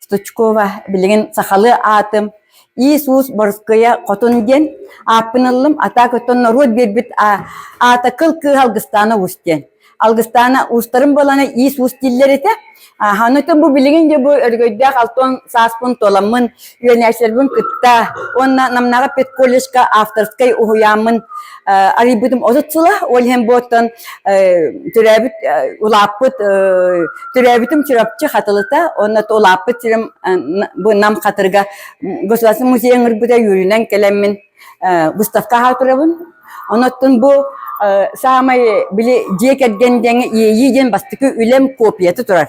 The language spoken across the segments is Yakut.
Стучкова, билигин сахалыы аатым Иисус Боруская Хотун диэн ааппын ыллым, атаак оттон норуот биэрбит аата кыл кыыһа Алгыстаана Уус диэн. Алгыстаана уустарын балана Иисус дииллэр этэ. Оннотон бу билигин де бу өргөйдөөх алтон сааспын толаммын, үөнээсэрбин кытта, онна намнаҕа педколлежка авторскай уһуйааммын арыйбытым отут сыла, ол иһин бу оттон төрөөбүт улааппыт төрөөбүтүм Чурапчы Хатылыта, онно улааппыт сирим бу Нам Хатырга государственный музей ыңырбыта юрүнэн кэлэммин выставка аһа турабын. Онуттан бу саамай били дьиэ кэргэн диэҥи иэйии диэн бастыкы үлэм копията турар.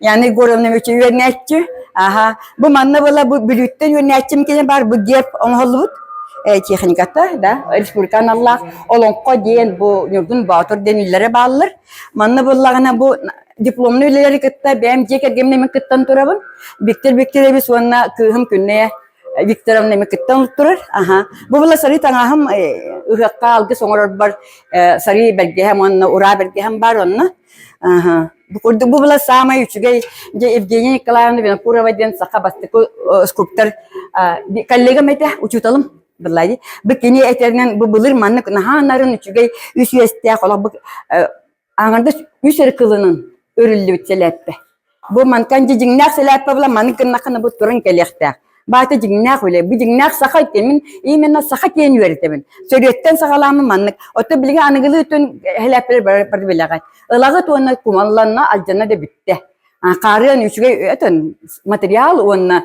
Yani Егоровна үчү үөрнээччү. Аха, бу манна была бүлүүттэн үөрнээччим кини бар бу деп оңоһоллубут э, техниката, да, республика аналлаах Олоҥхо диэн бу Ньургун Боотур дениллere бааллар. Манна буллагына бу дипломный үлелери кытта бэм дьиэ кэргэмнэми кыттан турабын. Виктор Викторович уонна кыыһым күннэе Викторовна мекеттен турар. Аха. Бу была сары таңаһым ыһыақка алгыс оңорорбар сары бэргэһэм уонна ура бэргэһэм бар онна. Бу курдук бу была самая үчүгэй дьэ Евгения Николаевна Винокурова диэн саха бастакы скульптор коллегам этэ учуталым былай бу кини этэринэн бу былыр маннык наһаанарын үчүгэй үс үөстээх олох бу аңарда үс ыркылынын өрүллүбүт сэлээппэ Бу мантан дьиҥнээх сэлээппэбла маны гыннахына бу туран кэлиэхтээх. Баата дьиҥнээх үлэ, бу дьиҥнээх саха үтэмин, именно саха киэн үөрэтэбин. Сөрүөттэн саҕалааммын маннык. Отто билиҥи аныгылыы үтүн сэлээппэр барбилэҕэ. Ылагы туонна кумалланна, алдьанна да бүттэ. Хаарыан үчүгэй өтөн материал уонна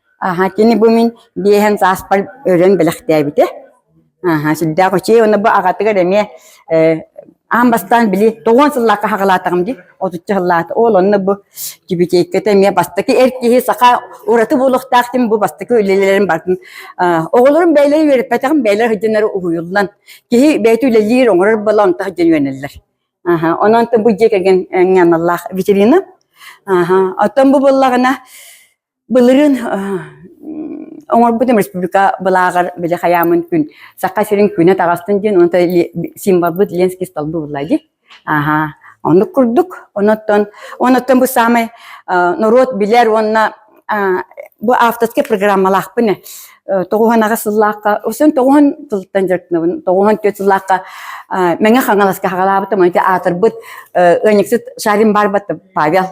Аха, кини бу мин биэһэн сааспар өрөн бэлэхтээбитэ. Аха, сүрдээх учей уонна бу аҕатыгар эмиэ э, аан бастаан били тоҕуон сыллаахха хаҕалаатаҕым дии, отучча сыллаата. Ол онно бу кибитиэккэтэ эмиэ бастакы эр киһи саха ураты буолуохтаахтын бу бастакы үлэлэрин бардын. Оҕолорум бэйэлэрэ үөрэппэтэҕим, бэйэлэр сыдьаннары уһуйуллан, киһи бэйэтэ үлэлиир, оҥорор буола онто сыдьан үөнэллэр. Аха, онон бу дьиэ кэргэн аналлаах витрина. Аха, оттон бу буллаҕына Былырыын оҥорбутум республика былааҕар били хайаамын күн Саха сирин күнэ таҕыстын диэн онон символбут Ленский стол буулла дии. Аһаа. Оннук курдук. Оннуттан оннуттан бу саамай норуот билэр уонна бу авторскай программалаахпын тоҕуһан аҕа сыллаахха өсөн тоҕуһан сылтан дьарыктынабын тоҕуһан түөрт сыллаахха мэҥэ хаҥаласка хагалаабытым ити аатырбыт ыанньыксыт шарин барбыт павел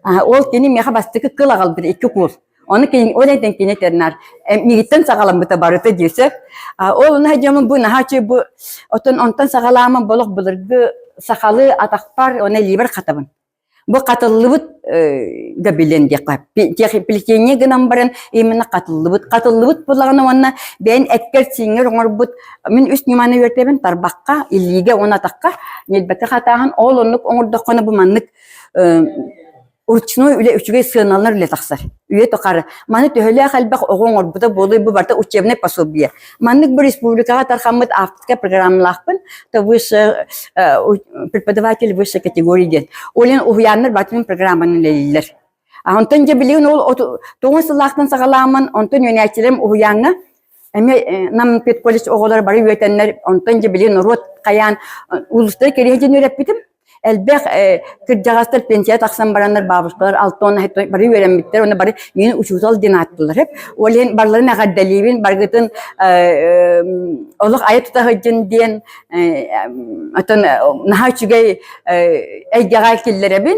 ол кини миэхэ бастакы кыл аҕалбыт икки куул оны кейін ол этен кине тернар мигиттен саҕаламмыта барыта диэсеп ол наһа дьомун бу наһа үчү бу отон онтон саҕалаама болох былыргы сахалы атахпар оны либер хатабын Бу хатыллыбыт да билен диэххэ плетение гынан баран именно хатыллыбыт хатыллыбыт булаҕын уонна бэйэн эккэр сиингер оҥорбут мин үс ньыманы үөртэбин тарбахха иллиигэ он атахха нельбэти хатааһын ол оннук оҥордоххуна бу маннык ручной үлэ үчүгэй сыаналар үлэ тахсар үйэ тухары. Маны төһөлөөх элбэх оҕо оҥорбута буолуй бу барыта учебнай пособие. Маннык бу республикаҕа тархаммыт автика программалаахпын, то высшая э, преподаватель высшей категории диэн. Олен уһуйааннар бартын программаны лэлиллер. А онтон дьэ билигин ол тоҕус сыллаахтан саҕаламмын, онтон үөнээччилэрим уһуйааҥҥа Эмиэ Нам педколледж оҕолор бары үөтэннэр, онтон дьэ били норуот хайаан улуустары кириэһитин үөрэппитим. Элбэх кырдьаҕастар пенсияҕа тахсан бараннар баабыркалар алтон бары үөрэммиттэр уонна бары миин учуутал диэн ааттыылар эп. Ол иһин барыларын эҕэрдэлиибин, баргытын олох айа тута сылдьын диэн отон наһаа үчүгэй эйгэҕэ киллэрэбин.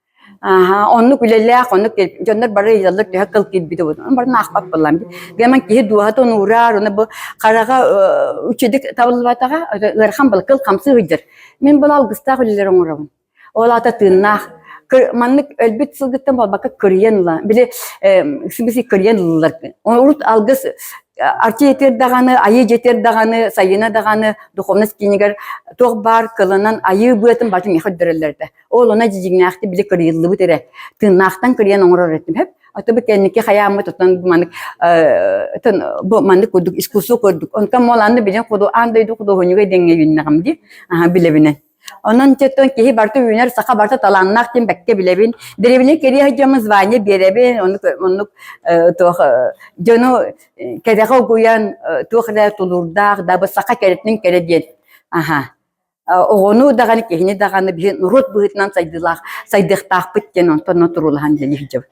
Аһаа, оннук үлэлээх, оннук дьоннор бары ыйдаллар төһө кыл кирбитибут. Ону бары наахпат буоллаҕым. Гэмэн киһи дууһатын ураар, уна бу хараҕа үчүдүк табыллыбатаҕа, ыарахан был кыл хамсы ыйдыр. Мин бұл алгыстаах үлэлер оңоробун. Ол ата тыыннаах. Маннык өлбүт сылгыттан болбакка кырыйан ыла. Били сибisi кырыйан ылылар. Урут алгыс арчы етер даҕаны, айыы жетер даҕаны, сайына даҕаны духовность киинигэр туох баар кылынан айыы быатын бачым мехөддөрөллөрдө. Ол она дьиҥнээхтик били кырыйыллыбыт эрэ. Тыыннаахтан кырыйан оҥорор этим. Хөп, ото кэнники хаяммыт отон манык тын бу маннык курдук искусство курдук. Онтон моланны билен куду ан дойду кудуһунюга деңге юннагам ди. Аха билебинен. Онон теттон киһи барта үүнэр саха барта талааннаах тим бэкке билебин. Деревне кирия жама звание беребин. Оннук оннук туох жону кэрэҕэ угуян туох да тулурдаах да бу саха кэрэтин кэрэ диэн. Аха. оҕону даҕаны киһини даҕаны биһи норуот быһыытынан сайдыылаах сайдыахтаахпыт диэн онтон туруулаһан иһэ сылдьабыт